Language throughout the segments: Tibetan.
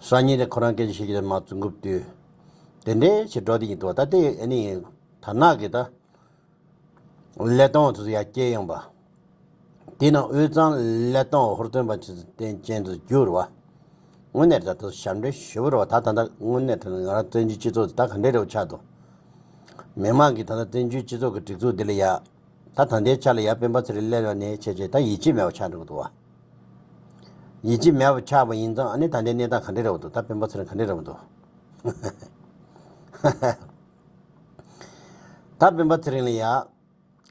སང་ཉིན་ཁོ་རང་སྐད་ཆ་ཤེས་ཀྱི་རེད་མ་བཙུན་གུབ་དུས། དེ་འདྲའི་ཕྱིར་སྒྲོག་དེ་ཡིན་འདུག་ད་ལྟའི་ཨ་ནི་དར་ནག་གི་ད། ཀླད་སྟོང་བ་ཚོ་ཡ་སྐྱེད་ཡངས་པ། དེས་ན་དབུས་གཙང་ཀླད་སྟོང་བ་ཧུར་བརྩོན་པ་ཆེ་བསྟན་ཅན་དུ་གྱུར་བ། དངོས་གནས་ད་ལྟ་ཞབས་འདྲེན་ཞུ་བར་བ་ད་ད་ད་དངོས་གནས་ད་ང་རང་བཙན་བྱོལ་སྤྱི་ཚོགས་འདི་ད་ག་འདྲའི་རེ་བ་ཆགས་འདུག། མི་མང་གིས་ད་ད་བཙན་བྱོལ་སྤྱི་ཚོགས་ཀྱི་སྒྲིག་འཛུགས་འདི་ལ་ཡ། ད་ད་ལྟའི་ཆ་ལ་ཡ་སྤེན་པ་ཚེ་རིང་ཀླད་བ་ནི་ཆེ་ཆེ་ད་ཡིད་ཆེས་མེད་པ་ཆགས་འདུག་བ། ཡིད་ཀྱི་མེད་པར་ཆགས་པ་ཡིན་ཙང་ཨ་ནི་ད་ལྟའི་གནས་སྟངས་ག་འདྲས་རེད་བ་འདུག་ད་དཔོན་པོ་ཚེ་རིང་ག་འདྲས་རེད་བ་འདུག། ད་དཔོན་པོ་ཚེ་རིང་ལ་ཡག།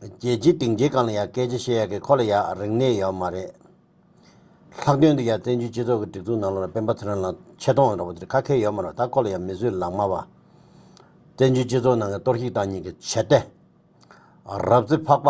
རྒྱལ་སྤྱིའི་སྡིངས་ཆའི་སྒང་ལ་ཡག་སྐད་ཆ་བཤད་ཡག་གི་ཁོ་ལ་ཡག་རིག་གནས་ཡོད་མ་རེད། ལྷག་དོན་དུ་ཡང་བཙན་བྱོལ་སྤྱི་ཚོགས་ཀྱི་སྒྲིག་འཛུགས་ནང་ལོགས་ལ་དཔོན་པོ་ཚེ་རིང་ལ་ཆེ་མཐོང་ཡོད་རེད་བ་དེ་ཁ་ཁས་ཡོད་མ་རེད་ད་ཁོ་ལ་ཡང་མི་བཟོད་ལགས་མ་བ། བཙན་བྱོལ་སྤྱི་ཚོགས་ནང་གི་གཏོར་བཤིག་དང་ཉིན་གྱི་བྱེད་གཏེ། རབ་རྩི་ཕག་པ།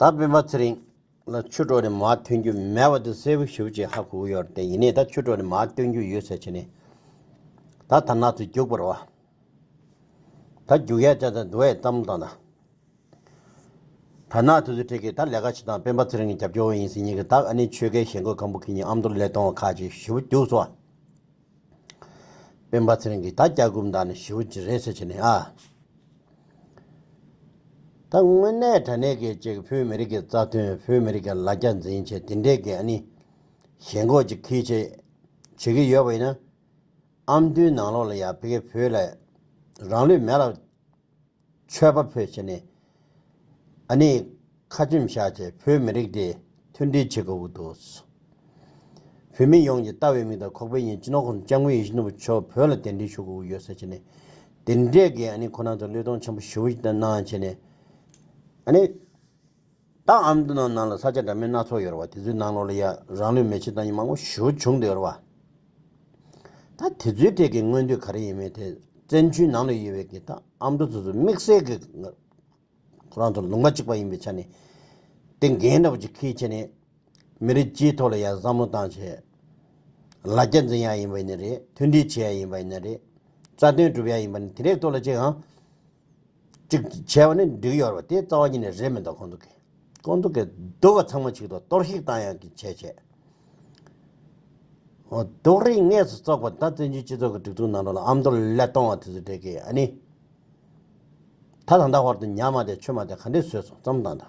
ད་བེམ་པ་ཚེ་རིང་ལ་ཆུ་གྲོགས་ནས་མ་ཐོན་རྒྱུ་མེད་བ་དེ་གསལ་བོ་ཞུ་ཅེས་ཧ་གོ་ཡོད་དེ་ཡིན་ནས་ད་ཆུ་གྲོགས་ནས་མ་ཐོན་རྒྱུ་ཡོད་ཟེར་བྱས་ནས་ད་དར་ནག་ཚོས་རྒྱུག་པར་བ། ད་རྒྱུག་ཡ་ཅག་ད་འདུ་བའི་གཏམ་བཏང་ད། དར་ནག་ཚོས་ཚུལ་ཁྲིད་ཀྱིས་ད་ལས་ཀ་བྱེད་དང་བེམ་པ་ཚེ་རིང་གི་རྒྱབ་སྐྱོར་བ་ཡིན་ཟེར་ཉིན་གྱི་ད་ཨ་ནི་ཆོལ་ཁའི་ཞེན་ཁོག་ཁམ་བུ་ཁྱེད་ཉིད་ཨམ་མདོར་ལས་གཏོང་བ་ཁ་ཅིག་ཞུ་བ་རྒྱུགས་སོ། སྤེན་པ་ཚེ་རིང་གིས་ད་སྐྱག་སྒུབ་འདང་ནི་ཞེ་བོ་ཅི་རེད་ཟེར་བྱས་ནས་ཨ། ད་དངོས་གནས་དྲ་གནས་སྐད་ཅིག་བོད་མི་རིགས་ཀྱི་རྩ་དོན་བོད་མི་རིགས་ཀྱི་ལ་རྒྱ་འཛིན་ཆེད་དེ་འདྲའི་གི་ཨ་ནི་ཞེ་འགོག་ཅིག་གིས་བྱེད་བྱེད་གི་ཡོད་པ་ཡིན་ན། ཨམ་མདོའི་ནང་ལོགས་ལ་ཡ་ཕི་གེ་བོད་ལ་རང་ལུས་མེ་ལ། ཆོས་པ་ཕོད་བྱས་ནས་ཨ་ནེ་ཁ་ཆེམས་བཞག་ཅེས་བོད་མི་རིགས་དེ་མཐུན་སྒྲིལ་བྱེད་དགོས་པོ་འདུག་བོད་མི་ཡོངས་ཀྱི་ལྟ་བའི་མིག་དང་ཁོག་པའི་ཉིན་སྤྱི་ནོར་ཁོང་སྐྱབས་མགོན་ཡེ་ཤུ་ནོར་བུ་མཆོག་བོད་ལ་གདན་འདྲེན་ཞུ་དགོས་པོ་ཡོད་ཟེར་བྱས་ནས་དེ་འདྲས་ཀྱི་ཨ་ནེ་ཁོ་ནང་དུ་བློས་གཏོང་ཆེན་པོ་ཞུ་བོ་གནང་བྱས་ནས་ཨ་ནེ། བདག་ཨ་མདོ་ནང་ནང་ལ་ས་ཆ་འདྲ་མིན་སྣ་ཚོགས་ཡོད་རེད་བ་དེ་ཚོའི་ནང་ལོགས་ལ་ཡ་རང་ལུས་མེ་ཆི་ད་ཡིན་མང་པོ་ཞུ་བྱུང་འདུག་ཡོད་རེད་བ། ད་དེ་ཚོའི་ཐད་ཀྱི་མངོན་འདོད་ག་རེ་ཡིན་མིན་དེ་བཙན་བྱོལ་ནང་ལ་ཡོད་བའི་གི་བདག་ཨ་མདོ་ཚོ་ཚོ་དམིགས་བསལ་གི་ཁོ་རང་ཚོ་ལུང་པ་གཅིག་པ་ཡིན་པའི་ཆ་ནས་དེ་འགན་འདྲ་བོ་ཅིག་ཁེལ་ཆེ་ནས་མི་རིགས་སྤྱིའི་ཐོག་ལ་ཡ་བསམ་བློ་བཏང་ཆེད་ལ་རྒྱ་འཛིན་ཡ་ཡིན་པ་ནི་རེད་མཐུན་སྒྲིལ་བྱེད་ཡ་ཡིན་པ་ནི་རེད་རྩ་དོན་སྒྲུབ་ཡ་ཡིན་པ་ནི་དེ་རེད་ཐོག་ལ་ཅི་ཡང། གཅིག་བྱས་པ་ནི་འགྲིག་ཡོད་རེད་པ་དེ་རྩ་བ་ཉིད་ནས་རེད་མི་འདུག་ཁོང་ཚོ་གིས་ཁོང་ཚོ་གིས་སྡུག་བ་ཚང་མ་ཆིག་ཐོག་གཏོར་བཤིག་བཏང་ཡང་གི་བྱས་བྱས། རྡོག་རིགས་ངས་སུ་བཙོག་པ་ད་བཙན་བྱོལ་སྤྱི་ཚོགས་ཀྱི་སྒྲིག་འཛུགས་ནང་དྲོ་ལ་ཨམ་མདོ་ལ་ལས་གཏོང་བ་དེ་ཚོ་འདྲེ་གི་ཨ་ནི། ད་ད་ད་བར་དུ་ཉག་མ་དེ་ཆོས་མ་དེ་ག་འདྲས་བཟོས་སོང་བརྩམས་དང་ད།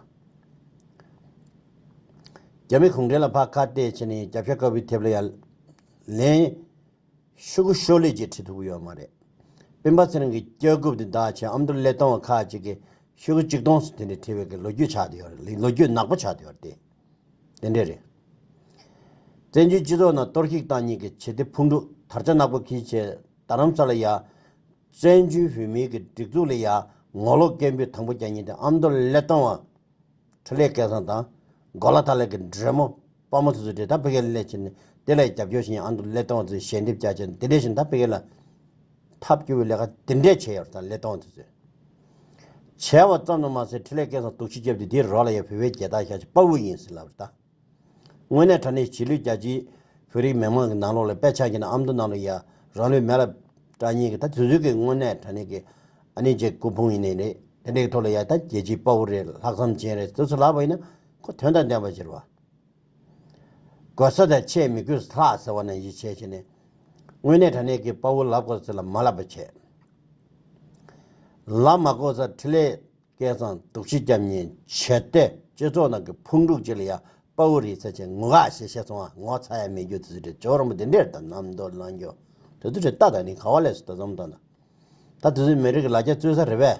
རྒྱ་མི་གུང་ཁྲན་ལ་ཕ་ཁ་གཏད་བྱས་ནས་རྒྱབ་ཤ་དཀར་པོའི་ཐེབས་ལ་ཡ་ལན། ཤོག་གུ་ཤོག་ལེབ་ཀྱིས་ཁྲིད་ཐུབ་ཀྱི་ཡོད་མ་རེད། སྤེན་པ་ཚེ་རིང་གི་སྐྱག་རྒུབ་འདི་དག་ཆེད་ཨ་མདོ་ཀླད་སྟོང་བ་ཁག་གཅིག་གིས་ཤོག་གུ་གཅིག་སྟོང་སོ་དེ་འདྲའི་ཁྲིད་བའི་ལོ་རྒྱུས་ཆགས་ཡོད་རེད་ལོ་རྒྱུས་ནག་པོ་ཆགས་ཡོད་རེད། དེ་འདྲས་རེད། བཙན་བྱོལ་སྤྱི་ཚོགས་ནང་གཏོར་བཤིག་བཏང་ཉིན་གྱི་བྱེད་གཏེ་ཕུང་དཀྲུག་དར་ཆ་ནག་པོ་གིས་བྱས་རྡ་རམ་ས་ལ་ཡ། བཙན་བྱོལ་བོད་མིའི་གི་སྒྲིག་འཛུགས་ལ་ཡ་ངོ་ལོག་སྐད་འབོད་དང་པོ་རྒྱག་ཉིན་དེ་ཨ་མདོ་ཀླད་སྟོང་བ། ཁྲི་ལས་སྐལ་བཟང་དང། མགོ་ལ་ཐ་ལེ་གི་འདྲེ་མོ་དཔའ་མོ་དེ་ཚོས་དྲེལ་ཐང་བྷི་གྷལ་སླེ་ཁྱེར་ནས་དེ་ལ་རྒྱབ་སྐྱོར་བྱེད་མཁན་ཨ་མདོ་སླེ་སྟོང་ཚོས་ཞལ་འདེབས་བརྒྱ་བྱས་ནས་དེ་འདྲའི་བཞིན་མཐའ་བྷི་གྷལ་ལ་ཐབས་སྐྱོ་བའི་ལས་ཀ་དེ་འདྲས་བྱས་ཡོད་རེད་ད་སླེ་སྟོང་དེ་ཚོས། བྱས་བ་ཙམ་དུ་མ་ཟད་ཁྲི་ལས་སྐལ་བཟང་དུག་ཆུས་བརྒྱབ་སྟེ་དེའི་རོགས་ལ་ཡང་བོད་པའི་རྒྱལ་དར་བཞག་ཅེས་དཔའ་བོ་ཡིན་ཟེར་ལབ་རེད་ད། དངོས་གནས་དྲ་གནས་བྱེད་ལུས་རྒྱ་ཆེའི་བོད་རིགས་མི་མང་གི་ནང་ལོགས་ལ་དཔེ་ཆ་འགྱེད་ན་ཨ་མདོ་ནང་ལོགས་ཡ་རང་ལུས་མེ་ལ་བཀྲ་སྙིང་གི་ད་དེ་ཚོའི་གི་དངོས་གནས་དྲ་གནས་ཀྱི་ཨ་ནེ་རྗེ་སྐུ་ཕུང་ཡིན་ནི་རེད་དེ་འདྲའི་གི་ཐོག་ལ་ཡ་ད་རྒྱལ་སྤྱིའི་དཔའ་བོ་རེད་ལྷག་བསམ་ཅན་རེད་ཟེར་སུ་ལབ་པ་ཡིན་ན། ཁོ་དོན་དང་ལྡན་པར་གྱུར་པ། དགོས་ས་དང་ཆེས་མི་དགོས་ས་ལྷག་ཟེར་བ་ན་ཡིད་ཆེས་བྱས་ནས། དངོས་གནས་དྲ་གནས་ཀྱི་དཔའ་བོ་ལབ་དགོས་ཚེ་ལ་མ་ལབ་པ་བྱས། ལབ་མ་དགོས་ས་ཁྲི་ལས་སྐལ་བཟང་དུག་ཕྱི་སྐྱབས་གཉིས་བྱས་ཏེ་སྤྱི་ཚོགས་ནང་གི་ཕུང་དཀྲུགས་ཅིག་ལ་ཡང་དཔའ་བོ་རིག་རྩལ་ཅན་ངུ་ག་ཞེས་བཤད་སོང་ང་ངོ་ཚ་ཡ་མེད་རྒྱུ་དེ་ཚོའི་གྲས་ཇོ་རིང་པོ་དེ་འདྲས་དང་ནམ་མདོར་ལང་རྒྱུ་དེ་ཚོའི་གྲས་ལྟ་དང་ནི་ག་བ་ལས་སུ་ད་ཙམ་ལྟ་ན་ད་དེ་ཚོའི་མི་རིགས་ལ་རྒྱ་བཙུན་ས་རེད་པས།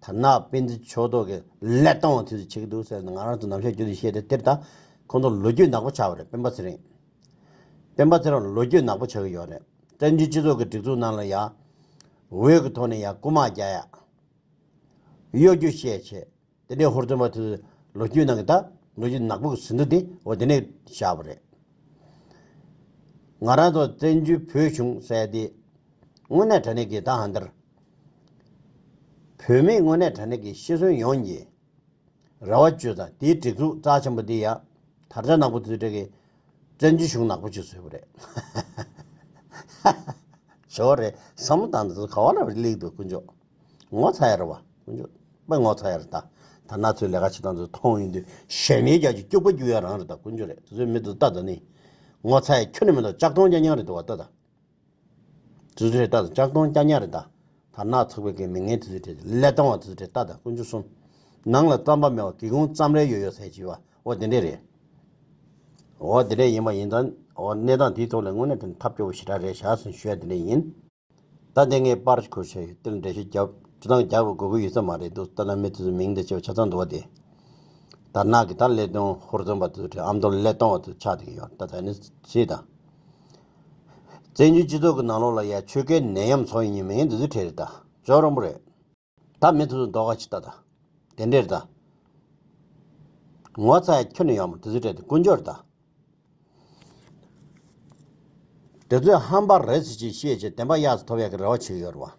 དར་ནག་སྤེན་ཚེ་ཕྱོགས་གཏོགས་ཀྱི་ཀླད་སྟོང་བ་དེ་ཚོས་བྱེད་ཀྱི་འདུག་ཟེར་ནས་ང་རང་ཚོ་ནམ་ཞར་བསྐྱོད་དུ་ཤེས་ཏེ་དེར་ད་ཁོང་ཚོ་ལོ་རྒྱུས་ནག་པོ་ཆགས་པ་རེད་སྤེན་པ་ཚེ་རིང། སྤེན་པ་ཚེ་རིང་ལོ་རྒྱུས་ནག་པོ་ཆགས་ཀྱི་ཡོད་རེད་བཙན་བྱོལ་སྤྱི་ཚོགས་ཀྱི་སྒྲིག་འཛུགས་ནང་ལ་ཡང། འོས་ཀྱི་ཐོག་ནས་ཡང་རྐུ་མ་རྒྱག་ཡ། གཡོ་སྒྱུ་བཤད་བྱེད་དེ་འདྲའི་ཧུར་བརྩོན་པ་དེ་ཚོས་ལོ་རྒྱུས་ནང་གི་ད་ལོ་རྒྱུས་ནག་པོ་གི་ཟིན་ཐོ་དེ་འོ་དེ་ནས་བཞག་པ་རེད། ང་རང་ཚོ་བཙན་བྱོལ་བོད་གཞུང་བསད་དེ། དངོས་གནས་དྲ་གནས་ཀྱི་ད་ཧ་འདིར་བུད་མེད་དངོས་གནས་དྲ་གནས་ཀྱི་ཤི་གསོན་ཡོང་རྒྱུའི་རེ་བ་བཅོལ་ཙང་དེའི་སྒྲིག་འཛུགས་རྩ་ཆེན་པོ་དེ་ཡང་དར་ཆ་ནག་པོ་བཙུད་དྲག་གིས་བཙན་བྱོལ་གཞུང་ནག་པོ་བྱེད་སྲོལ་རེད། བྱེད་བ་རེད་བསམ་བློ་བཏང་ཚེ་ག་བ་ལ་ལེགས་འདུག་དཀོན་མཆོག་ངོ་ཚ་ཡར་བ་དཀོན་མཆོག་པེ་ངོ་ཚ་ཡར་ད་ད་ན་ཚོས་ལས་ཀ་བྱེད་སྟངས་ཚོ་མཐོང་ཡོང་དུས་ཞལ་མེད་རྒྱག་གི་སྐྱུག་པ་རྒྱུག་ཡ་རང་རེད་ད་དཀོན་མཆོག་རེད་ཚོས་མེད་དུ་ད་ད་ནི་ངོ་ཚ་ཡ་ཁྱོད་ནི་མེད་ཏོ་ལྕགས་སྟོང་རྐྱང་རྐྱང་རེད་དུ་བ་ད་ད། དུས་ཚོད་རེ་ལྟ་དང་ལྕགས་སྡོང་སྐྱ་ཉག་རེ་བཟླ། དར་ནག་ཚགས་པའི་གན་མི་ངན་དུས་ཚོད་རེ། ཀླད་སྟོང་བ་དུས་ཚོད་རེ་ལྟ་དང་ཀུན་སྤྱོད་གསུམ། ནང་ལ་རྩམ་པ་མེད་བ་གི་གུང་རྩམ་རེ་ཡོད་ཡོད་ཟེར་གྱི་བ་འོ་དེ་འདྲས་རེད། འོ་དེ་འདྲས་ཡིན་པ་ཡིན་ཙང་འོ་གནས་སྟངས་དེའི་ཐོག་ལ་དངོས་གནས་དེ་འདྲ་ཐབས་སྐྱོ་བོ་ཞེ་དྲག་རེད་བཞག་སོང་ཞུ་ཡ་དེ་འདྲས་ཡིན། ད་དེ་ངས་པར་ཁུར་བྱས་ཡོད་དེར་འགྲེལ་བཤད་རྒྱབ་སྟངས་རྒྱག་དགོས་དགོས་ཡོད་ས་མ་རེད་འདུག་ད་ལམ་མི་དེ་ཚོའི་མིང་འདི་ཆེ་བ་ཆ་ཚང་འདུག་བ་དེ། དར་ནག་གི་དར་ཀླད་སྟོང་ཧོར་རྩམ་པ་དུས་ཚོད་རེ་ཨ་མདོར་ཀླད་སྟོང་བ་དུས་ཆགས་དེ་གི་ཡོད་ད་ད་ནི་ཚེས་དང། བཙན་བྱོལ་སྤྱི་ཚོགས་ཀྱི་ནང་ལོགས་ལ་ཡ་ཆོས་ཀའི་ནད་ཡམས་འཚོ་ཡིན་ཉེ་མི་ངན་འདི་ཚོས་ཁྲེལ་རེད་ད། ཇོ་རོང་པོ་རེད་ད། མི་ཚོས་མདོག་ག་ཇི་ལྟ་ད། དེ་འདྲས་རེད་ད། ངོ་ཚ་ཡ་ཁྱོད་ནི་ཡག་མོ་དེ་ཚོས་ཁྲེལ་དེ་ཀུན་སྦྱོར་རེད་ད། དེ་ཚོས་ཧམ་པ་རེད་ཟེར་ཅི་བཤད་ཅི་བདེན་པ་གཡག་ཚོ་ཐོབ་ཡག་གི་རེ་བ་བྱེད་ཀྱི་ཡོད་རེད་བ།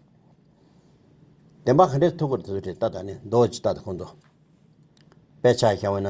བདེན་པ་ག་འདྲས་ཐུབ་ཁུར་དེ་ཚོས་ཁྲེལ་ད་ད་ནི་མདོག་ཇི་ལྟ་ད་ཁོང་ཚོ། དཔེ་ཆ་ཤ་བོ་ན།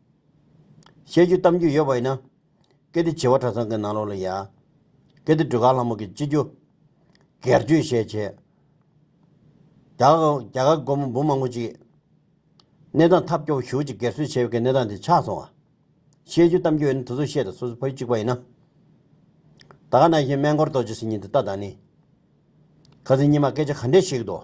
བཤད་རྒྱུ་གཏམ་རྒྱུད་ཡོད་པ་ཡིན་ན། གལ་ཏེ་བྱི་བ་གྲྭ་ཚང་གི་ནང་ལོགས་ལ་ཡ། གལ་ཏེ་སྒྲོལ་དཀར་ལྷ་མོ་གི་སྤྱི་རྒྱུ། སྒེར་རྒྱུད་བཤད་ཆེད། རྒྱ་གར་སྒོར་མོ་འབུམ་མང་པོ་ཅིག། གནས་སྟངས་ཐབས་སྐྱོ་བོ་ཞུགས་ཅིག་སྒེར་གསོད་བྱས་པའི་གནས་སྟངས་དེ་ཆགས་སོང་ཨ། བཤད་རྒྱུ་གཏམ་རྒྱུད་ཡོད་ན་དེ་ཚོ་བཤད་དང་སོ་སོ་ཕ་ཡུལ་གཅིག་པ་ཡིན་ན། ད་ག་ན་བཞིན་སྨན་སྐོར་རྡོ་རྗེ་སེམས་ཉིད་འདི་ལྟ་ད་ནི། ཁ་ཟས་སྙིགས་མ་སྐད་ཆ་ག་འདྲས་བཤད་གི་འདུག།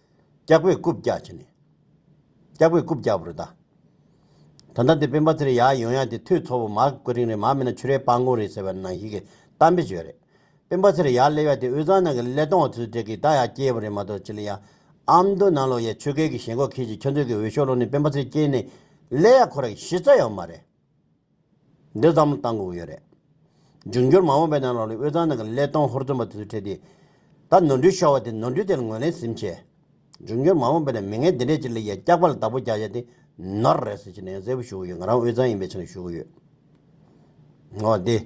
སྐྱག་པས་རྐུབ་བཀྱག་བྱས་ནས། སྐྱག་པས་རྐུབ་བཀྱག་པར་གདའ། ད་ལྟ་འདི་སྤེན་པ་ཚེ་རིང་ཡག་ཡོང་ཡག་དེ་ཐོས་ཚོགས་པ་མ་ཀུ་རིང་རེད་མ་མིན་ན་ཆུ་རའི་སྤང་སྒོང་རེད་ཟེར་བ་ནང་བཞིན་གྱི་གཏམ་དཔེ་བྱོས་རེད། སྤེན་པ་ཚེ་རིང་ཡག་སླེ་བ་དེ་དབུས་གཙང་ནང་གི་སླེ་སྟོང་བ་ཚོའི་གྲས་ཀྱི་ད་ཡག་སྐྱེས་པ་རེད་མ་གཏོགས་ཅི་ལ་ཡག། ཨ་མདོ་ནང་ལོགས་ཡས་ཆོས་སྐལ་གྱི་ཞེན་ཁོག་ཁྱེད་ཀྱིས་ཁྱོད་ཚོའི་གི་འོས་ཤོག་སློག་ནས་སྤེན་པ་ཚེ་སྐྱེས་ནས་སླེ་ཡག་ཁོ་ར་གི་གཞི་རྩ་ཡག་མ་རེད། འདི་ཙམ་བཏང་དགོས་ཡོད་རེད། འབྱུང་འགྱུར་མ་འོངས་པའི་ནང་ལོགས་ལས་དབུས་གཙང་ནང་གི་ཀླད་སྟོང་ཧོར་བཙོན་པ་དེ་ཚོའི་གྲས་དེ། ད་ནོར་འཁྲུལ་ཤོར་བ་དེ་ནོར་འཁྲུལ་དེར་ངོས་ལེན་ཟིན་བྱས། འབྱུང་འགྱུར་མ་འོངས་པའི་ནང་མི་ངན་འདི་འདྲས་ཀྱི་ལི་ཡ་སྐྱག་པ་ལ་བདག་པོ་རྒྱག་ཡ་དེ་ནོར་རེད་ཟེར་ཆེ་ནས་ཡང་གསལ་པོ་ཞུ་གི་ཡོད་ང་རང་དབུས་གཙང་ཡིན་པའི་ཆ་ནས་ཞུ་གི་ཡོད། འོ་དེ།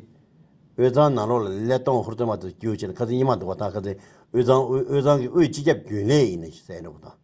དབུས་གཙང་ནང་ལོགས་ལ་ཀླད་སྟོང་ཧོར་བཙོན་པ་དེ་ཚོ་བསྐྱུར་ཆེད་ནས་ཁ་ཚིག་ཉི་མ་འདུག་པ་དང་ཁ་ཚིག་དབུས་གཙང་དབུས་གཙང་གི་དབུས་སྤྱི་ཁྱབ་རྒྱུན་ལས་ཡིན་ནི་ཟེར་འདུག་པ་དང།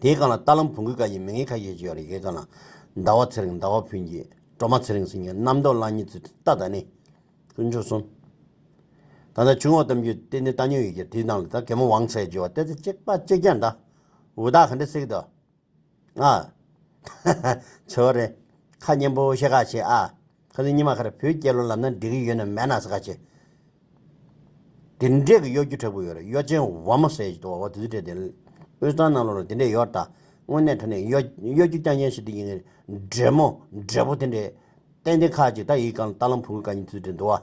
དེའི་སྒང་ལ་རྟ་ལམ་བོང་གུས་ཀ་ཡི་མི་ངན་ཁ་ཤས་ཅིག་ཡོད་རེད་ཞེས་དང། ཟླ་བ་ཚེ་རིང་ཟླ་བ་ཕུན་གྱིས་སྒྲོལ་མ་ཚེ་རིང་སེང་གེ་རྣམ་རྟོག་གླང་གཉིས་ཚུལ་ཁྲིམས་རྟ་ད་ནི། དཀོན་མཆོག་གསུམ། ད་ལྟ་བྱུང་བ་གཏམ་རྒྱུད་དེ་ནི་རྟ་ཉོ་ཡི་གེར་བྲིས་སྣང་ལ་ད་གད་མོ་བང་ཚད་བརྗེ་བ་སྟེ་ཚེ་གཅིག་པ་གཅིག་རྒྱ་འདྲ། འུ་དག་ག་འདྲ་སྲིད་གདའ། ཨ། ཚོད་རེད། ཁ་སྙན་པོ་བཤད་ག་བྱེད་ཨ། ཁ་ལུས་ཉི་མ་ཁར་བོད་སྐྱེ་ལོ་ལབ་ན་འགྲིག་གི་ཡོད་ན་མེད་ན་ཟེར་ག་བྱེད། དེ་འདྲས་ཀྱི་གཡོ་སྒྱུ་དྲག་པོ་ཡོད་རེད་གཡོ་ཅན་བ་མོ་ཟེར་གྱི་འདུག་བ་བ་དུས་དེ་དུས་དེ་དབུས་གཙང་ནང་ལོགས་ལ་དེ་འདྲས་ཡོད་ད། དངོས་གནས་དོན་ནས་གཡོ་གཡོ་སྒྱུ་རྐྱང་ཅན་ཞིག་དེ་ཡིན་གི་རེད་མོ། འབྲས་བུ་དེ་འདྲས། ཏན་ཏན་ཁག་ཅིག་ད་ཡིག་གང་ལ་ལྟ་ལམ་བུ་ག་གཉིས་དུས་དེ་འདུག་བ།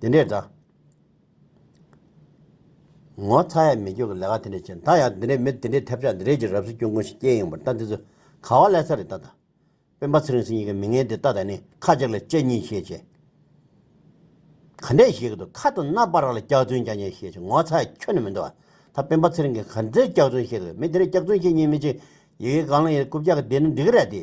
འདི་འདྲས་འདྲ། ངོ་ཚ་ཡས་མི་ཁྱོད་ཀྱི་ལས་ཀ་དེ་འདྲས་བྱས་ད་ཡང་འདི་འདྲས་མི་དེ་འདྲས་ཐེབས་ཆག་འདི་འདྲས་ཀྱི་རབས་སུ་སྐྱོན་ཀུན་ཞིག་སྐྱེས་ཡོང་པར་ལྟ་འདི་ཚོ་ག་བ་ལས་ས་རེད་ད་ད། སྤེན་པ་ཚེ་རིང་སྲིད་གཉིས་ཀྱི་མི་ངན་དེ་ད་ད་ནི་ཁ་ཅིག་ལ་དཔྱད་གཉིས་ཤེས་ཆེ། ག་འདྲས་བཤད་ཀྱི་འདུག་ཁ་དང་རྣ་པར་ར་ལ་སྐྱག་རྫུན་ཀྱང་ཀྱང་བཤད་ཆེ་ངོ་ཚ་ཡས་ཁྱོད་ནི་མི་འདུག་ཨ་ད་སྤེན་པ་ཚེ་རིང་གིས་ག་འདྲས་སྐྱག་རྫུན་བཤད་ཀྱི་འདུག་མི་དེ་འདྲས་སྐྱག་རྫུན་བཤད་གཉིས་མི་ཅིག་ཡི་གེ་གང་ལ་ཡིན་རེད་རྐུབ་བཀྱག་གི་དེ་ནི་འདི་གི་རེད་དེ།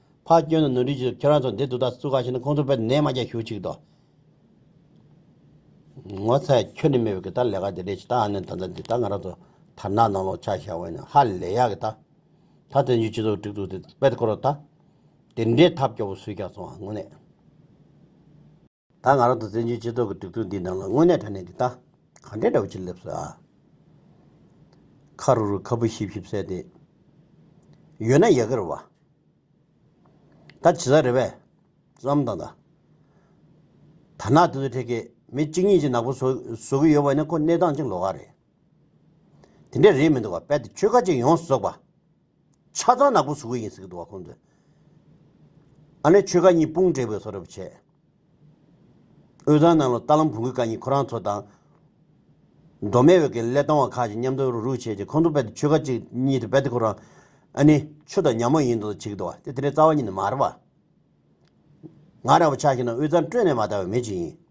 ཕ་སྐྱོན་དང་ནོར་འཁྲུལ་གྱིས་ཁྱོད་རང་ཚོ་འདི་དུ་ད་སུ་ག་ཞིག་ན་ཁོང་ཚོ་བལ་ནད་མ་རྒྱག་ཞུ་ཆིག་དོ། ངོ་ཚའི་ཁྱོད་ནི་མི་བོད་ཀྱི་ད་ལས་ཀ་འདི་རེད་ཆིག་ད་ཨ་ནི་ད་ད་འདི་ད་ང་རང་ཚོ་དར་ནག་ནང་ལོག་ཆག་ཞག་བས་ནི་ཧ་ལས་ཡག་གི་ད། ད་བཙན་བྱོལ་སྤྱི་ཚོགས་སྒྲིག་འཛུགས་འདི་དཔེ་ཀོ་རོ་ད། དེ་འདྲའི་ཐབས་སྐྱོ་བོ་སུས་རྒྱག་སོང་ཨ་དངོས་གནས། ད་ང་རང་དང་བཙན་བྱོལ་སྤྱི་ཚོགས་ཀྱི་དུག་ཚོད་འདིའི་ནང་ལ་དངོས་གནས་དྲ་གནས་འདི་ལྟ། གང་དྲན་འདྲ་བོ་ཅིག་སླེབས་སོ་ཨ། ཁ་རུ་རུ་ཁ་སྤུ་ཤིབ་ཤིབ་བསྲེགས་ཏེ། ཡོད་ན་ཡལ་ག་རུ་བ། ད་ཇི་ལྟར་རེ་བས། བསམ་དང་ད། དར་ནག་དེ་ཚོ་ཁྲེལ་ཁེ་མི་གཅིག་གཉིས་ཀྱིས་ནག་པོ་བཟོ་གི་ཡོད་པ་ནི་ཁོ་གནས་སྟངས་ཅིག་ལོག་ག་རེད། དེ་འདྲས་རེད་མི་འདུག་ག་དཔལ་དུ་ཆོས་ཁ་ཅིག་ཡོངས་སུ་རྫོགས་པ། ཆ་ཚང་ནག་པོ་བཟོ་གི་ཡིན་ཟེར་གི་འདུག་བ་ཁོང་ཚོས། ཨ་ནེ་ཆོལ་ཁ་གཉིས་དཔུང་བསྒྲིགས་པའི་ཚོགས་ར་བར་ཆད། དབུས་གཙང་ནང་ལོ་རྟ་ལམ་བོང་གུ་ཀ་གཉིས་ཁོ་རང་ཚོ་དང། མདོ་སྨད་འོད་ཀྱི་ཀླད་སྟོང་བ་ཁག་ཅིག་མཉམ་དུ་རུག་རུག་བྱས་རྗེས་ཁོང་ཚོ་རྦད་དེ་ཆོལ་ཁ་གཅིག་གཉིས་དེ་རྦད་དེ་ཁོ་རང། ཨ་ནེ། ཆུ་དང་ཉག་མོ་ཡིན་འདུག་བྱེད་ཀྱི་འདུག་བ་དེ་དེ་འདྲའི་རྩ་བ་ཉིད་ནས་མ་རེད་བ། ང་རང་བ་ཆ་ཤས་ནང་དབུས་གཙང་སྤྲོད་ནས་མ་བལྟ་བའི་མི་གཅིག་ཡིན།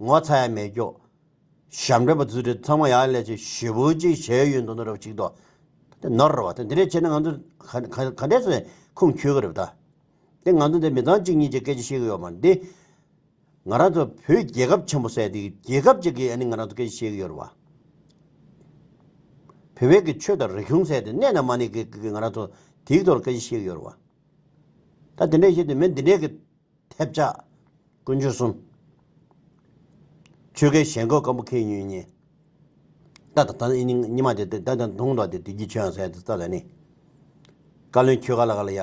ངོ་ཚ་ཡ་མེད་ཀྱོ། ཞབས་འདྲེན་པ་རྫུ་འཕྲུལ་ཚང་མ་ཡག་ལས་ཅིག་ཞི་བུ་ཅིག་བྱས་ཡོད་འདུག་ནོར་རོ་གཅིག་དོ། དེ་ནོར་རོ་བ་དེ་འདི་འདྲས་བྱས་ན་ང་ཚོ་ག་འདྲས་སུ་ཁུངས་འཁྱོལ་གི་རེད་བ་ད། དེ་ང་ཚོ་འདི་མི་ཚང་གཅིག་གཉིས་ཀྱི་སྐད་ཆ་བཤད་གི་ཡོད་མ་རེད་དེ། ང་རང་ཚོ་བོད་རྒྱལ་ཁབ་ཆེན་པོ་ཟེར་དེ་རྒྱལ་ཁབ་ཅིག་གིས་ཨ་ནི་ང་རང་ཚོ་སྐད་ཆ་བཤད་གི་ཡོད་རེད་བ། བོད་བོད་ཀྱི་ཆོས་དང་རིག་གཞུང་ཟེར་དེ་གནས་ན་མ་གནས་ཀྱི་ང་རང་ཚོ་དེའི་ཐོག་ལ་སྐད་ཆ་བཤད་གི་ཡོད་རེད་བ། ད་དེ་འདྲས་བཤད་དེ་མི་འདི་འདྲས་ཀྱི་ཐེབས་ཆག། ཀུན་སྤྱོད་གསུམ། ཆོས་སྐད་ཞེན་ཁོག་སྐམ་པོ་ཁེལ་ཉོན་གཉིས། རྟ་དང་ད་ནི་ཉི་མ་དེ་དེ་དང་དུང་མདོག་དེ་དེ་རྒྱུ་ཆོས་ཡང་ཟེར་ཡ་དེ་རྩ་ལ་ནི། བཀའ་བློན་ཁྱོད་ག་ལ་ག་ལ་ཡ།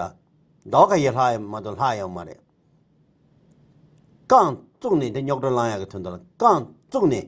ཟླ་བ་ཁ་ཡི་ལྷག་ཡ་མ་གཏོགས་ལྷག་ཡའང་མ་རེད། རྐང་བཙུགས་ནས་དེ་རྙོག་གྲ་བསླང་ཡ་གི་དོན་དང་རྐང་བཙུགས་ནས།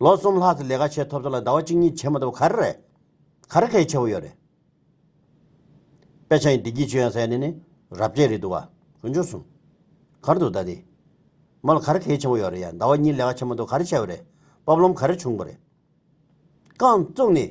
ལོ་གསུམ་ལྷག་གི་ལས་ཀ་བྱས་ཐོབ་ཐོབ་ལ་ཟླ་བ་གཅིག་གཉིས་བྱེད་མ་ཐུབ་ག་རེ་རེད། ག་རེ་གལ་ཆེ་བོ་ཡོད་རེད། དཔེ་ཆ་ཡི་བདེ་སྐྱིད་ཆོས་ཡང་ཟེར་ནས་ནི་རབ་རྒྱས་རེད་འདུག་བ། ཀུན་སྤྱོད་གསུམ། གར་འདུག་ད་ལྟའི། མོ་ལ་ག་རེ་གལ་ཆེ་བོ་ཡོད་རེད་ཡ་ཟླ་བ་གཉིས་ལས་ཀ་བྱེད་མ་ཐུབ་ག་རེ་བྱས་བ་རེད། བབ་ལོམ་ག་རེ་བྱུང་བ་རེད། རྐང་བཙུགས་ནས།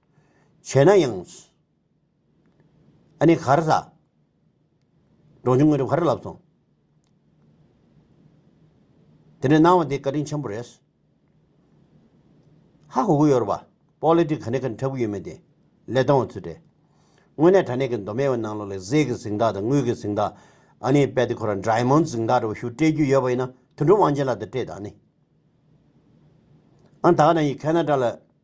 བྱས་ན་ཡང། ཨ་ནི་གར་ཟ། འབྲོང་ཆུང་དངོས་གྲུབ་གར་ལབ་སོང། དེ་འདྲའི་སྣང་བ་འདི་བཀའ་དྲིན་ཆེན་པོ་རེད། ཧ་གོ་གི་ཡོད་རེད་པ། པོ་ལི་ཏིག་ག་ནས་ག་ནས་འཁྲབ་གི་ཡོད་མེད་དེ། ལས་སྟོང་བ་ཚོད་རེད། དངོས་གནས་དྲ་གནས་ཀྱི་མདོ་སྨད་བའི་ནང་ལོག་ལས་གཟས་ཀྱི་གཟིག་མདའ་དང་དངུལ་གྱི་གཟིག་མདའ། ཨ་ནི་དཔལ་ཏི་ཁོ་ར་འདྲའི་མོ་གཟིག་མདའ་འདྲ་བོ་ཞུ་སྤྲད་རྒྱུ་ཡོད་པ་ཡིན་ན་དུད་འགྲོ་དབང་ཆེན་ལགས་དེ་སྤྲད་དང་ཨ་ནི། ཨ་ནི་ད་ག་ནང་ཡི་གྷལ་ན་དྲ་ལ།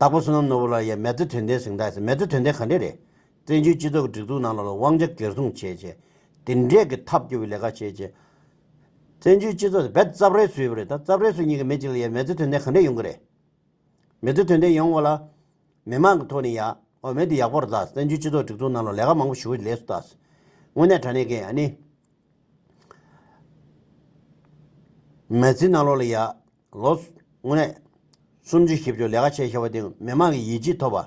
དྭགས་པོ་བསོད་ནམས་ནོར་བུ་ལགས་ཡས་མེད་དུ་དོན་ལྡན་གཟེངས་རྟགས་མེད་དུ་དོན་ལྡན་ག་འདྲས་རེད། བཙན་བྱོལ་སྤྱི་ཚོགས་ཀྱི་སྒྲིག་འཛུགས་ནང་ལ་ལ་དབང་ཆ་གེར་སྲུང་བྱེད་ཆེད། དེ་འདྲས་ཀྱི་ཐབས་སྐྱོ་བའི་ལས་ཀ་བྱེད་ཆེད། བཙན་བྱོལ་སྤྱི་ཚོགས་དེ་རྦད་རྩབ་རེད་བཟོས་པ་རེད་ད་རྩབ་རེད་བཟོས་ཉིན་ག་མེད་ཅིག་ལ་ཡས་མེད་དུ་དོན་ལྡན་ག་འདྲས་ཡོང་གི་རེད། མེད་དུ་དོན་ལྡན་ཡོང་བ་ལ། མི་མང་གི་ཐོག་ནས་ཡ། ཨོ་མེད་དུ་ཡག་པོར་གདའ་བཙན་བྱོལ་སྤྱི་ཚོགས་སྒྲིག་འཛུགས་ནང་ལ་ལས་ཀ་མང་པོ་ཞུ་བའི་ལས་སུ་གདའ། དངོས་གནས་དྲ་གནས་ཀྱི་ཨ་ནི། མེད་ཚིག་ནང་ལོགས་ལ་ཡ། ལོ། དངོས་གནས། གསུམ་བཅུ་བཞི་བཅུ་ལས་ཀ་བྱེད་ཤེས་པ་དེ་མི་མང་གི་ཡིད་ཆེས་ཐོབ་པ།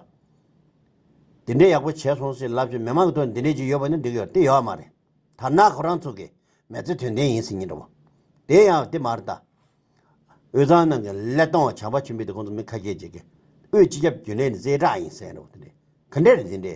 དེ་འདྲའི་ཡག་པོ་བྱས་སོང་ཟེར་ལབ་ཀྱི་མི་མང་གི་དོན་དེ་འདྲའི་ཅིག་ཡོད་པ་ནི་འགྲིག་ཡོད་དེ་ཡོད་མ་རེད། དར་ནག་ཁོ་རང་ཚོ་གི་མེ་ཚེ་དོན་ལྡན་ཡིན་ཟེར་ཉིན་འདྲ་བོ། དེ་ཡང་དེ་མ་རེད་ད། དབུས་གཙང་ནང་གི་ཀླད་སྟོང་བ་བྱམས་པ་ཆེན་པོས་དེ་ཁོང་ཚོ་མི་ཁ་སྐྱེལ་བྱེད་ཀྱི་དབུས་སྤྱི་ཁྱབ་རྒྱུན་ལས་ནི་རྩེ་གྲགས་ཡིན་ཟེར་ཡིན་འདྲ་བོ་དེ་འདྲའི་ག་འདྲ་རེད་དེ་འདྲའི།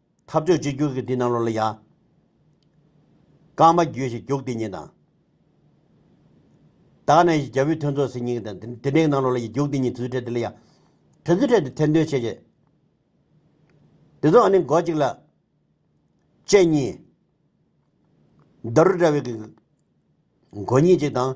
ཐབས་ཆོས་གཅིག་གྱུར་གྱི་དེ་རྣམས་ལོ་ལ་གཞག། རྐང་པ་རྒྱུད་བཞི་རྒྱུག་དེ་ཉིད་དང། དག་གནས་བཞི་རྒྱལ་པོའི་ཐུན་ཚོགས་ཟིན་སྙིང་དང། དེ་འབྲེལ་རྣམས་ལོ་ལ་གཞག་རྒྱུག་དེ་ཉིད་དྲི་ཚུལ་ཕྲད་དེ་ལ་གཞག། དྲི་ཚུལ་ཕྲད་དེ་ཐེར་འདོན་བྱེད་བྱེད། དེ་ཚོ་ཨ་ནི་མགོ་གཅིག་ལ། སྤྱན་གཉིས། རྡོ་རུ་འདྲ་བའི་གི། མགོ་གཉིས་གཅིག་དང།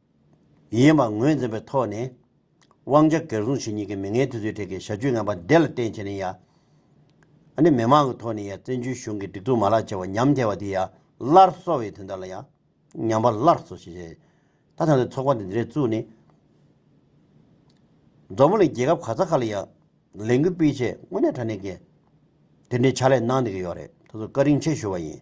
ཡིན་པ་ངོས་འཛིན་པའི་ཐོག་ནས། དབང་ཆ་སྒེར་སྲུང་བྱེད་མྱི་གི་མི་ངན་དེ་ཚོའི་གྲས་ཀྱི་ཞབས་ཅུས་ངན་པ་འདེ་ལ་བརྟེན་བྱས་ནས་ཡ། ཨ་ནི་མི་མང་གི་ཐོག་ནས་ཡ་བཙན་བྱོལ་གཞུང་གི་སྒྲིག་འཛུགས་མ་ལག་བྱེ་བ་ཉམས་ཐལ་བ་དེ་ཡ་སླར་གསོ་བའི་དོན་དག་ལ་ཡ། ཉམས་པ་སླར་གསོ་བྱེད་བྱེད། ད་ཐང་དུ་ཚོགས་པ་འདི་འདི་རེ་བཙུགས་ནས། མཛོ་མོ་ལས་རྒྱལ་ཁབ་ག་ས་ཁ་ལ་ཡ། ལས་འགུལ་སྤེལ་ཆེད་དངོས་གནས་དྲ་གནས་ཀྱི། དེ་འདྲའི་ཕྱག་ལས་གནང་འདི་གི་ཡོད་རེད་ད་གཟོད་བཀའ་དྲིན་ཆེ་ཞུ་བ་ཡིན།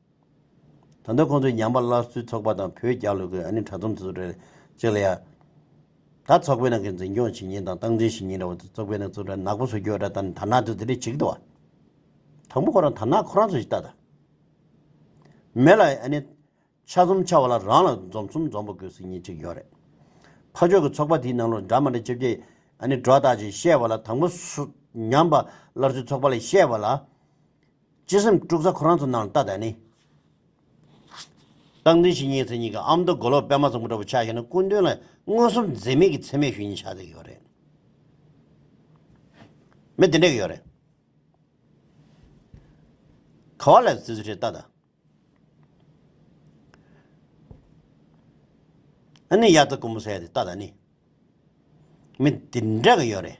ད་དུང་ཁོང་ཚོས་ཉམས་པ་སླར་གསོའི་ཚོགས་པ་དང་བོད་རྒྱ་ལུ་གུ་ཨ་ནེ་དྲ་ཚོམས་ཚུད་རེད་ཅེས་ལ་ཡ། ད་ཚོགས་པའི་ནང་གི་འཛིན་སྐྱོང་བྱེད་ཉིན་དང་སྟངས་འཛིན་བྱེད་ཉིན་འདྲ་བ་དུ་ཚོགས་པའི་ནང་ཚུད་ར་ནག་པོ་བཟོ་རྒྱུ་ཨ་ད་ད་ནག་དུ་དེ་རེད་བྱེད་ཀི་འདུག་བ། དང་པོ་ཁོ་རང་ད་ནག་ཁོ་རང་ཚོ་ཞིག་ལྟ་ད། མེད་ལ་ཨ་ནེ། ཆ་གསུམ་ཆ་བ་ལ་རང་ལ་འཛོམས་གསུམ་འཛོམས་པོ་དགོས་ཟེར་ཉིན་གཅིག་ཡོད་རེད། ཕ་ཆོས་ཀྱི་ཚོགས་པ་དེའི་ནང་ལོ་འདྲ་མ་འདྲ་ཅེ་བཅས་ཨ་ནེ་སྒྲོ་བཏགས་ཀྱིས་བཤད་བ་ལ་དང་པོ། ཉམས་པ་སླར་གསོའི་ཚོགས་པ་ལས་བཤད་བ་ལ། སྤྱི་སེམས་དཀྲུག་ས་ཁོ་རང་ཚོ་ནང་ལྟ་དང་ནི། བཏང་འཛིན་བྱེད་ཉེས་ཚེ་གཉིས་ཀྱི་ཨ་མདོ་མགོ་ལོག་པད་མ་ཚོམ་བུ་འདྲ་པོ་ཆགས་ཤིག་ན་སྐུ་མདུན་ལ་མངོན་སུམ་འཛེམ་མེད་ཀྱི་འཚེ་མེད་ཞུ་ཉེས་ཆགས་ཏེ་ཡོད་རེད། མི་དེ་འདྲ་གི་ཡོད་རེད། ག་བ་ལས་བརྩི་ཚུལ་ཁྲེལ་ལྟ་དང། ཨ་ནི་དབྱར་རྩྭ་དཀོན་པོ་ཟས་དེ་ལྟ་དང་ནི། མི་དེ་འདྲ་གི་ཡོད་རེད།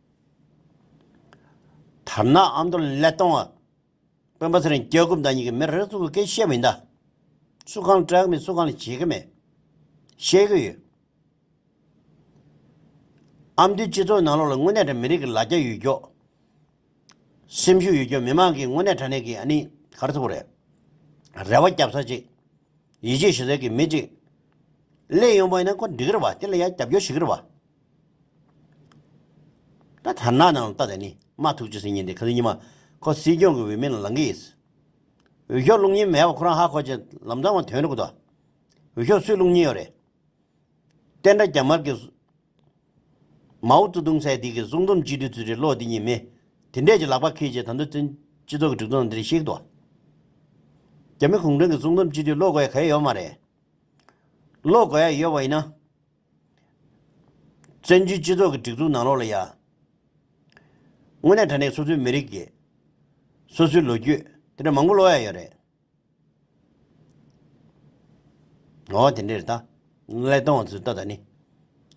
དར་ནག་ཨ་མདོ་ཀླད་སྟོང་བ། དཔོན་པོ་ཚེ་རིང་སྐྱག་རྐུབ་འདའ་གཉིས་ཀྱི་མི་རེ་ཟུང་གི་སྐད་བཤད་མི་འདའ། སུ་གང་ལ་སྐྲག་གི་མེད་སུ་གང་ལ་བྱེད་ཀྱི་མེད། བཤད་ཀྱི་ཡོད། ཨ་མདོའི་སྤྱི་ཚོགས་ནང་ལོགས་ལ་དངོས་གནས་དྲ་མི་རིགས་ཀྱི་ལ་རྒྱ་ཡོད་ཀྱོག། སེམས་ཤུགས་ཡོད་ཀྱོག་མི་མང་གིས་དངོས་གནས་དྲ་གནས་ཀྱི་ཨ་ནི་ག་རེ་ཐུབ་པ་རེད། རེ་བ་རྒྱབ་ས་ཅིག། ཡིད་ཆེས་ཞུ་སའི་ཀྱི་མི་ཅིག། ཀླད་ཡོན་པོ་ཡིན་ན་ཁོ་འགྲིག་གི་རེད་བ་དེ་ལ་ཡ་རྒྱབ་སྐྱོར་བྱེད་ཀྱི་རེད་བ། ད་དར་ནག་ནང་ལ་ལྟ་དེ་ནི་མ་ཐུག་ཅེས་ཟེར་ཉིན་དེ་ག་ཚོད་ཉི་མ་ཁོ་སྲིད་སྐྱོང་གི་འོས་མི་ལ་ལང་གི་ཡིན། འོས་ཤོག་བླུག་སྙིང་མེད་པ་ཁོ་རང་ཧ་གོ་ཅེས་ལམ་འདང་བ་དོན་རེད་གོ། འོས་ཤོག་སུས་བླུག་སྙིང་ཡོད་རེད། བསྟན་དགྲ་རྒྱ་དམར་གྱི། མའོ་ཙུ་ཏུང་ཚད་ཐིག་གི་གསུང་རྩོམ་སྤྱི་འཐུས་ཚུལ་ཁྲིམས་བློ་བདེ་གཉིས་མེད་དེ་འདྲས་ཀྱི་ལག་པ་ཁིལ་རྗེས་ད་འདོད་བརྩོན་སྤྱི་ཚོགས་ཀྱི་སྒྲིག་ཚོགས་ནང་དེ་རིགས་བཤིག་ཏོ། རྒྱ་མི་གུང་ཁྲན་གྱི་གསུང་རྩོམ་སྤྱི་འཐུས་བློ་དགའ་ཡག་ག་ཡོད་མ་རེད། བློ་དགའ་ཡག་ཡོད་པ་ཡིན་ན། བཙན་བྱོལ་སྤྱི་ཚོགས་ཀྱི་སྒྲིག་འཛུགས་ནང་ལོགས་ལ་ཡ། དངོས་གནས་དྲ་གནས་སོ་སོའི་མི་རིགས་ཀྱི། སོ་སོའི་ལོ་རྒྱུས་དེ་འདྲ་མང་པོ་ལོགས་ཡ་ཡོད་རེད། འོ་དེ་འདྲས་རེད་ད། ཀླད་སྟོང་བ་ཚོས་ལྟ་ད་ནི།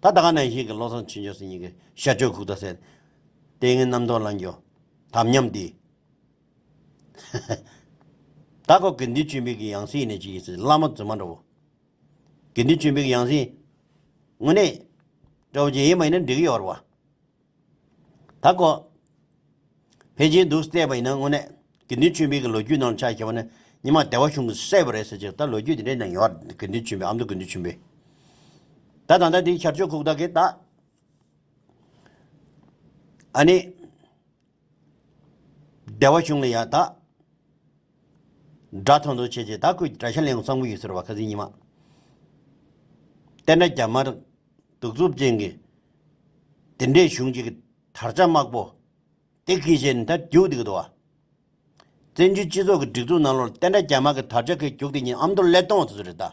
ད་ད་ག་ནང་བཞིན་གྱི་བློ་བཟང་ཆོས་འབྱོར་སེར་སྙིང་གི་ཤ་གཅོད་ཁུག་རྟ་ཟེར། ལྟས་ངན་རྣམ་རྟོག་རླངས་འགྱུར་དམ་ཉམས་འདི། ཧཧཧ། ད་ཁོག་གི་འདི་ཆུ་མིག་གི་ཡང་སྲིད་ཡིན་ནི་ཅི་ཡིན་ཟེར་བླ་མ་རྫུན་མ་འདྲ་བོ། དགེ་འདུན་ཆོས་འཕེལ་གྱི་ཡང་སྲིད། དངོས་གནས། ཀྲོའུ་རྗེ་ཡིན་པ་ཡིན་ན་འགྲིག་གི་ཡོད་རེད་བ། ད་ཀོ། ཕལ་ཆེར་འདུག་བལྟས་པ་ཡིན་ན་དངོས་གནས། དགེ་འདུན་ཆོས་འཕེལ་གྱི་ལོ་རྒྱུས་ནང་ཆ་ཞེས་པ་ནི་ཉི་མ་བདེ་བ་གཞུང་གི་གསལ་བོ་རེད་ཟེར་ཅིག་ད་ལོ་རྒྱུས་དེ་འདྲའི་ནང་ཡོད་རེད་དགེ་འདུན་ཆོས་འཕེལ་ཨ་མདོ་དགེ་འདུན་ཆོས་འཕེལ། ད་ད་ལྟ་དེའི་ཤར་ཕྱོགས་ཁུག་རྟ་གེ་ད། ཨ་ནི། བདེ་བ་བྱུང་ལ་ཡང་དག། སྒྲ་ཐོ་འདོན་བྱེད་ཀྱི་དག་གུས་བཀྲ་ཤིས་གླིང་གསང་ཕུ་ཡུལ་ཟེར་བ་ཁ་ཟིག་ཉི་མ། བསྟན་དགྲ་རྒྱ་དམར། གདུག་རྩུབ་ཅན་གྱི། དེ་འདྲའི་གཞུང་གཅིག་གི་དར་ཆ་དམར་པོ། དེ་གིས་ཞེ་ནས་དར་རྒྱུགས་འདི་གི་དོ། བཙན་བྱོལ་སྤྱི་ཚོགས་ཀྱི་སྒྲིག་འཛུགས་ནང་ལོར་བསྟན་དགྲ་རྒྱ་དམར་གྱི་དར་ཆ་གིས་རྒྱུགས་དེ་ཉིད་ཨ་མདོ་ཀླད་སྟོང་དུ་ཟེར་རེད་ད།